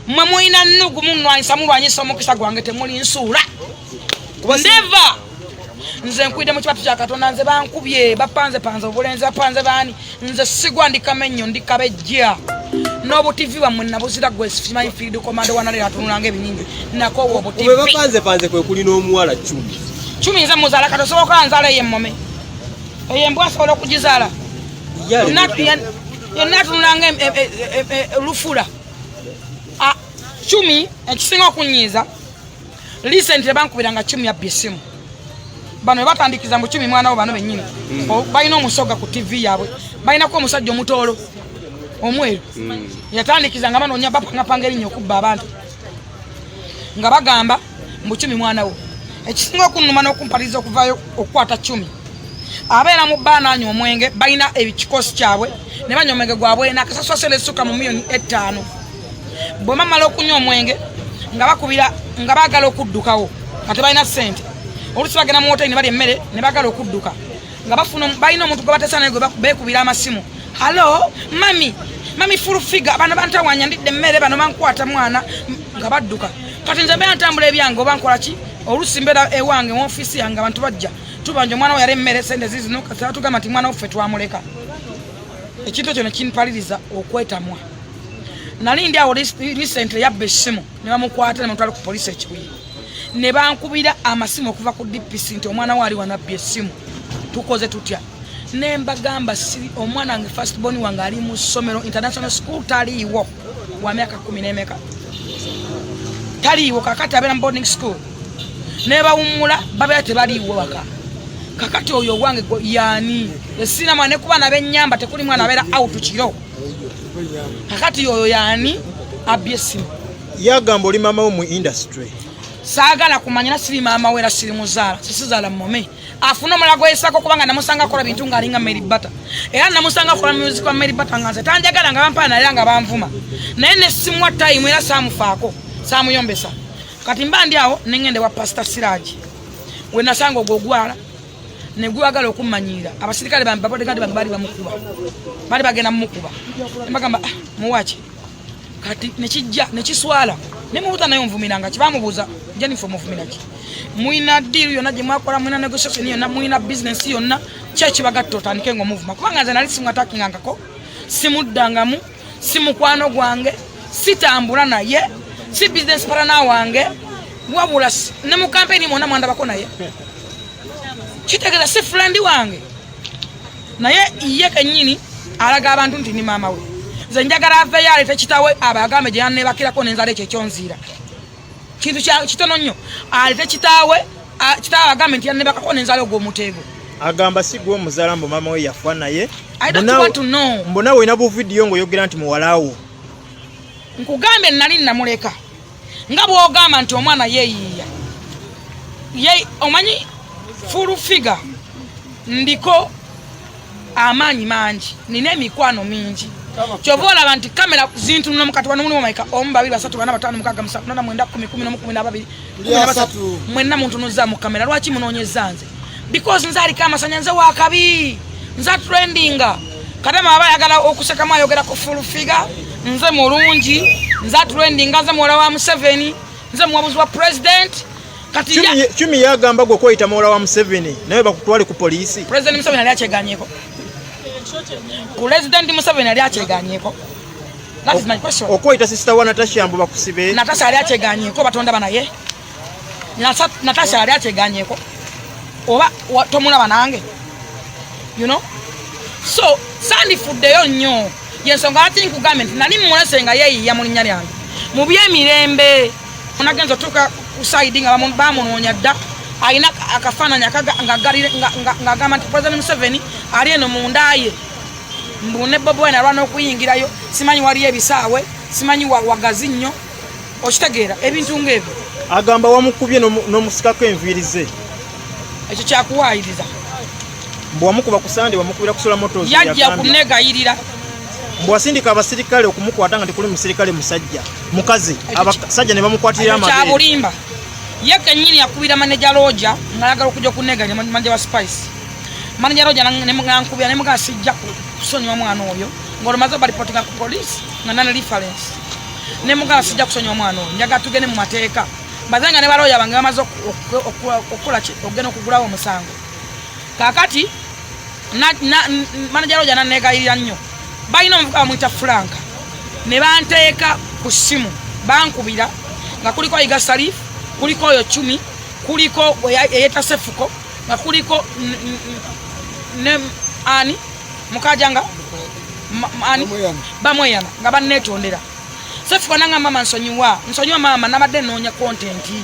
mwe mulina nnugu munwanyisa mulwanyisa omukisa gwange temuli nsuula neva nze nkwidde mu kibatu kya katonda nze bankubye bapanze panze obulenzi bapanze baani nze sigwa ndi kamenyo ndi kabejja n'obutivi bwammwe nabuzira gwe simanyi field komando wanalera atunulanga ebinyinyi nakowa obutivi webapanzepanze kwe kuli n'omuwala cumi cumi nze muzaala kati osobola okuba nzaala eyo emmome eyo embwa asobola okugizaala yenna atunulanga e, e, e, lufula ah, cumi ekisinga okunyiiza Recently bankubira nga Chumi yabbi simu. Bano webatandikiza mu Chumi mwana wo bano benyini. Mm. Oh, Bayina omusoga ku TV yabwe. Bayina ko omusajja omutolo. Omweru. Mm. Yatandikiza nga bano nyabba nga pangeri nyo kubba abantu. Nga bagamba mu Chumi mwana wo. Ekisinga okunuma n'okumpaliza okuvayo okukwata Chumi. abeera mu bba nanywa omwenge balina ekikosi kyabwe ne banywa omwenge gwabwe nakasaswasera essuka mu miyoni ettaano bwe bamala okunywa omwenge nga bakubira nga baagala okuddukawo nga tebalina ssente olusi bagenda mu woteri ne bali emmere ne baagala okudduka nga bafuna balina omuntu gwe batesa naye gwe beekubira amasimu halo mami mami full figure bano bantawanya ndidde emmere bano bankwata mwana nga badduka kati nze mbeera ntambula ebyange oba nkola ki olusi mbeera ewange mu ofiisi yange abantu bajja tubanja omwana weyali emmere sente zizinuka tugamba nti mwana waffe twamuleka ekintu ekyo ne kinpaliriza okwetamwa nali ndi awo recently yabba essimu ne bamukwata ne mutwala ku poliisi ekibuye ne bankubira amasimu okuva ku dpc nti omwana waali wanabba essimu tukoze tutya ne mbagamba si omwana wange first born wange ali mu ssomero international school taliiwo wa myaka kumi n'emeka taliiwo kakati abeera mu boarding school ne bawummula babeera tebaliiwo waka kakati oyo owange yaani esinamu anekuba nabenyamba tekuli mwana abeera out kiro kakati oyo yani abbye essimu yagamba oli maama we mu industry saagala kumanya era siri maama we era siri muzaala sisizaala mome afuna omulala gweyisako kubanga namusanga akola bintu ngaalinga mary bata era namusanga akola music wa mary bata nga nze tanjagala nga bampana era nga banvuma naye nesimwa time era saamufaako saamuyombesa kati mba ndi awo nengende wa pasita siraji wenasanga ogwogwala ne gwagala okummanyiira abasirikale bambi babodegaadi bambi baali bamukuba baali bagenda mumukuba nebagamba ah, muwaki kati nekijja nekiswala nemubuuza naye onvumiranga kibamubuuza jenifa omuvumiraki mulina diiru yonna gye mwakola mulina negotiation yonna mulina bizinensi yonna kyekibagatta otandike nga omuvuma kubanga nze nali simwatakingangako simuddangamu si mukwano gwange sitambula naye si business partner wange wabula ne mu kampeni mwona mwandabako naye kitegeeza si friend wange naye ye kenyini alaga abantu nti ni maama we nze njagala aveyo alete kitawe abo agambe gyeyanebakirako nenzala ekyo ekyonziira kintu kitono nnyo alete kitaawe kitaawe agambe nti yanebakako nenzala ogwomuteego agamba si gwe omuzala mbu mama we yafa naye mbona olina buvidiyo ngaoyogera nti muwalawo nkugambye nali namuleka nga bwogamba nti omwana yeyiiya omanyi fulu figa ndiko amaanyi mangi nina emikwano mingi kyova olaba nti kamera zintunula mukati wano mulimu maika omu babiri basatu bana batano mukaga musa nona mwenda kumi kumi nomu kumi nababiri mwenna muntunuza mu kamera lwaki munonyeza nze because nze aliko amasanya nze wakabi nze atrendinga kadama aba ayagala okusekamu ayogera ku fulfiga nze mulungi nze atrendinga nze muwala wa museveni nze muwabuzi wa president kati ya chumi ya gamba gwe kwita mola wa Museveni nawe bakutwale ku police president Museveni ali acheganyeko president Museveni ali acheganyeko that is my question okwita sister wa Natasha mbu bakusibe Natasha ali acheganyeko batonda bana ye Natasha ali acheganyeko oba tomula banange you know so sandi fudde yo nyo yensonga ati nkugambye nti nali mmulese nga yeeyiya mu linnya lyange mu by'emirembe onagenza otuuka ku saidi nga bamunoonya dda alina akafaananyi ng'agamba nti president museveni ali eno mu ndaaye mbu ne bobi wine alwana okuyingirayo simanyi waliyo ebisaawe simanyi wagazi nnyo okitegeera ebintu ng'ebyo agamba wamukubye n'omusikako enviiri ze ekyo kyakuwaayiriza mbu wamukuba ku sande wamukubira kusula moto yajja kunegayirira mbu wasindika abasirikale okumukwata nga tekuli musirikale musajja mukazi abasajja ne bamukwatirira amabere kyabulimba ye kenyini yakubira maneja loja ngalagala okuja okunega ne maneja wa spice maneja loja nankubira ne mugaa sijja kusonyiwa mwana oyo ng'olumaze balipotinga ku polisi nga nana reference ne mugaa sijja kusonyiwa mwana oyo njaga tugende mu mateeka mbaze nga ne baloya bange bamaze okukola ki okugenda okugulawo omusango kakati manaja roja nanegayirira nnyo balina omuvuka bamwita franka ne banteeka ku ssimu bankubira nga kuliko yiga salif kuliko oyo cumi kuliko eyetasefuko nga kuliko ne ani mukaja nga ani bamweyana nga banetondera sefuko nanga mama nsonyiwa nsonyiwa mama nabadde noonya kontenti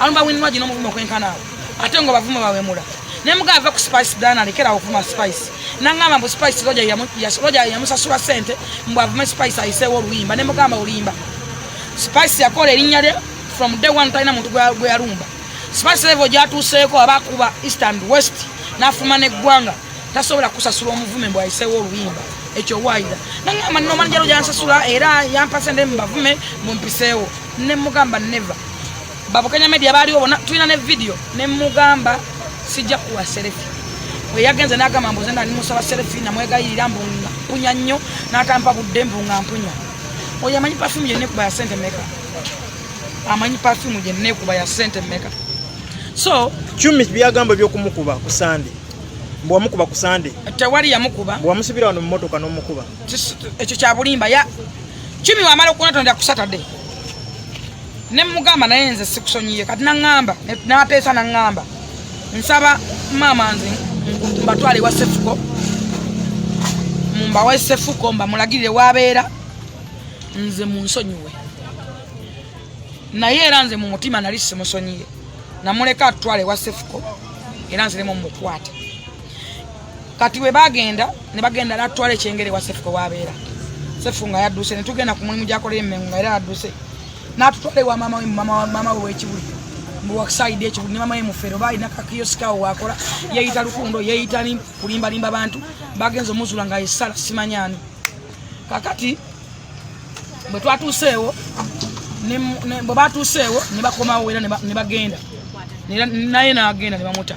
Alumba winwa jino muvumo kwenkana awo. Ate ngo bavumo bawemula. Ne mga ava ku spice dana alekera okuma spice. Nangama mbu spice roja ya ya roja ya musa sura sente mbu avume spice aise wo luimba ne mugamba ulimba. Spice ya kole linya de from day one taina muntu gwa gwa alumba. Spice level ja tu seko abakuba east and west na fuma ne gwanga. Tasobola kusasula omuvume mbu aise wo luimba. Echo wide. Nangama no manjaro ja nsasula era yampasende mbavume mumpisewo. ne mugamba never babukenya media baaliwo bona tulina ne video ne mugamba sijja kuwa serefi bwe yagenze n'agamba mbuze nali musaba serefi namwegayirira mbu mpunya nnyo n'atampa budde mbu nga mpunya oyo amanyi pafumu gyenekuba ya sente meka amanyi pafumu gyenekuba ya sente meka so cumi byagamba ebyokumukuba ku sande mbu wamukuba ku sande tewali yamukuba mbu wamusibira wano mu motoka n'omukuba ekyo kyabulimba ya kimi wamala okunatonda kusatade nemugamba naye nze sikusonyiye kati naŋamba nateesa naŋamba nsaba maama nze mbatwale ewa sefuko mumbawe sefuko mbamulagirire wabeera nze munsonyiwe naye era nze mu mutima nali simusonyiye namuleka atutwale ewa sefuko era nziremu mukwate kati we bagenda ne bagenda natwala ekyengere wa sefu wabeera sefu nga yadduse ne tugenda ku mulimu gyakolera emmengo nga era yadduse n'atutwala ewa maama we maama we w'ekibuli mbu wakisayidi ekibuli ne maama we mufeero baalina kakiyosikawo waakola yeeyita lukundo yeeyita ni kulimbalimba bantu bagenza omuzula nga yesala simanyani kakati bwe twatuuseewo bwe batuuseewo ne bakomawo era ne bagenda naye n'agenda ne bamuta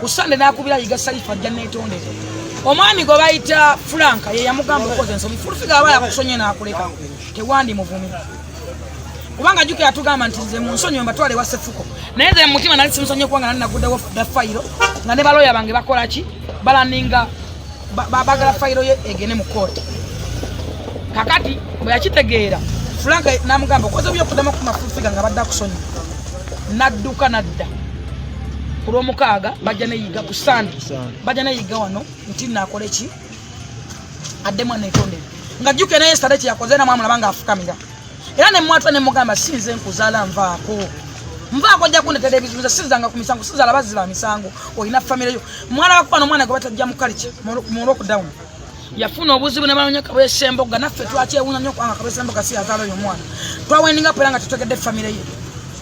ku sande nakubira yiga saifa ajja netondere omwami gwe bayita franka ye yamugamba okoze ensobi fulufiga aba yakusonye nakuleka tewandi muvumi kubanga juke yatugamba nti nze munsonyi mbatwale wa sefuko naye nze mutima nali simusonye kubanga nali naguddewo da fayiro nga ne baloya bange bakola ki balaninga bagala fayiro ye egene mu kooti kakati bwe yakitegeera franka namugamba okoze byokudamu ku mafulufiga nga badde akusonyi nadduka nadda ku lwomukaaga bajja neyiga ku sande bajja neyiga wano nti nakola ki adde mwana etondere nga jjuke naye sitade kyeyakoze era mwamulaba nga afukamira era nemwatula nemugamba sinze nkuzaala nvaako nvaako ojja kundetera ebizunza sizanga ku misango sizaala bazzi ba misango olina famireyo mwalabako wano omwana gwe batajja mu kalica mu lockdown yafuna obuzibu ne banonya kabese mboga naffe twakyewunya nnyo kubanga kabese mboga si yazaala oyo omwana twawendinga pera nga tutegedde famire ye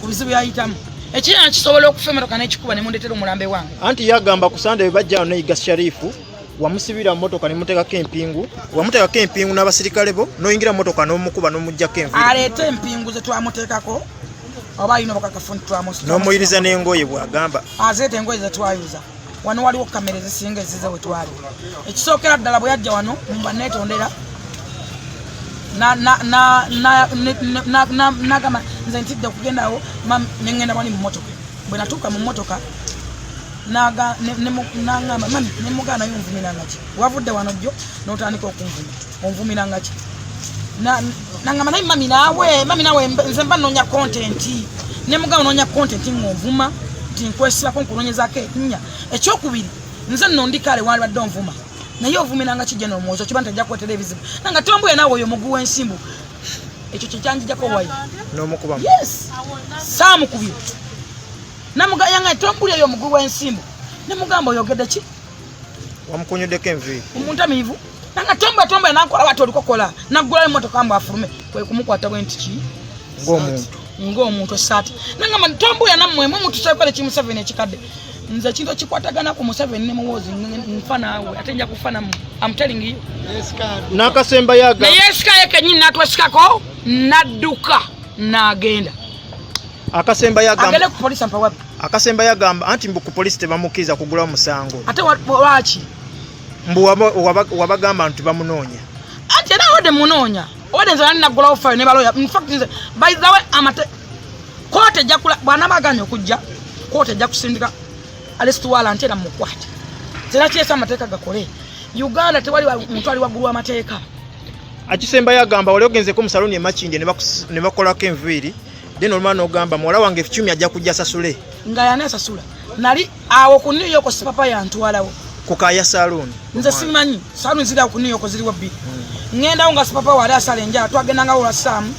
ku bizibu yayitamu ekirina kisobola okufa emotoka nekikuba ne mundetera omulambe wange anti yagamba ku sande bwe bajja no iga sharifu wamusibira motoka ne mutekako empingu wamutekako empingu n'abasirikale bo noyingira motoka n'omukuba n'omuggyako envi aleeta empingu ze twamuteekako oba alina obukakafu nti twamusi n'omuyiriza n'engoye bwagamba azeeta engoye ze twayuza wano waliwo kamera ezisinga ezize wetwali ekisookera ddala bwe yajja wano mumba netondera nagamba nze ntidde okugendawo nengenda wani mumotoka bwe natuuka mu motoka nangamba mami nemugaana yonvumirangaki wavudde wano jjo notandika okunvuma onvumira nga ki nangamba naye mami nawe mami nawe nze mba nonya content ne mugabo nonya content ngonvuma nti nkwesibako nkunonyezako enya ekyokubiri nze nno ndi kale wandibadde onvuma naye ovumiranga kijja nomwozi okiba nti ajja kuwetera ebizibu nanga tombuye nawe oyo omugu wensimbu ekyo kyekyanjijako wayi nomukubamu yes saamukubye namugayanga tombuli eyo omugu wensimbu nemugamba oyogede ki wamukonyoddeko enviiri omuntamiivu nanga tomba tomba enankola bati olikokola naggulayo emotoka mbu afulume kwe kumukwata bwe nti ki ng'omuntu ng'omuntu esaati nangamba tombuya nammwe mwe mutusakola eki museveni ekikadde nze ekintu ekikwatagana ku museveni ne muwoozi nfa naawe ate nja kufa nammwe amutelingiyo n'akasemba yaga naye esikayo kenyini natwesikako nadduka n'agenda akasemba yagamba agende ku polisi ampawabi akasemba yagamba anti mbu ku polisi tebamukiriza kugula omusango ate lwaki mbu wabagamba nti bamunoonya anti era ode munoonya ode nze nani naggulawo fayo ne baloya infact nze by the way amate kooti ejja kula bwanaba aganye okujja kooti ejja kusindika alisituwala nti era mukwate zera kyesa amateeka gakole uganda tewali muntu ali waggulu w'amateeka akisembayo agamba wali ogenzeko musaloni emakindye nebakolako enviiri then olumala nogamba muwala wange ekikyumi ajja kujja sasule nga yani asasula nali awo ku new york sipapa yantwalawo ku kaya saloon nze simanyi saloon ziri awo ku new york ziriwo bbiri hmm. ngendawo nga sipapa wali asala enjala twagendanga wola saamu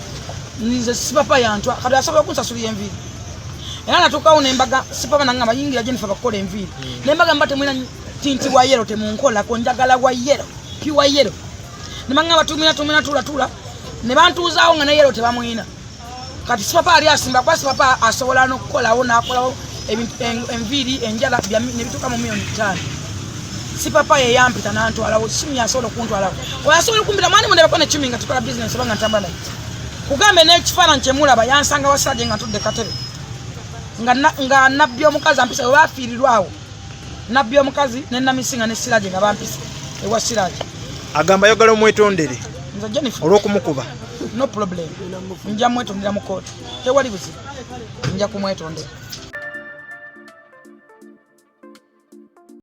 nze sipapa yantwa kati asobola okunsasula enviiri era natuukawo nembaga sipapa nange abayingira gye nife bakukola enviiri hmm. nembaga mba temwina tinti wa yero temunkolako njagala wa yero piwa yero nemanga batumina tumina tulatula ne bantuuzaawo nga ne yero tebamwina kati sipapa ali asimba kuba sipapa asobola nokukolawo nakolawo enviiri enjala nebituuka mu miyoni ttaano sipapa yeyampita nantwalawo simu yasobola okuntwalawo oyasobola okumpita mwani mundebeko nekimi nga tukola bisinesi oba nga ntamba naye kugambe nekifaananyi kyemulaba yansanga wasaje nga ntudde katebe nga nabbi omukazi ampisa oba afiirirwawo nabbi omukazi ne namisinga ne siraje nga bampise ewa siraje agamba yogala omwetondere nze jennifer olwokumukuba no problem nja mwetondera mu kooti tewali buzibu nja kumwetondera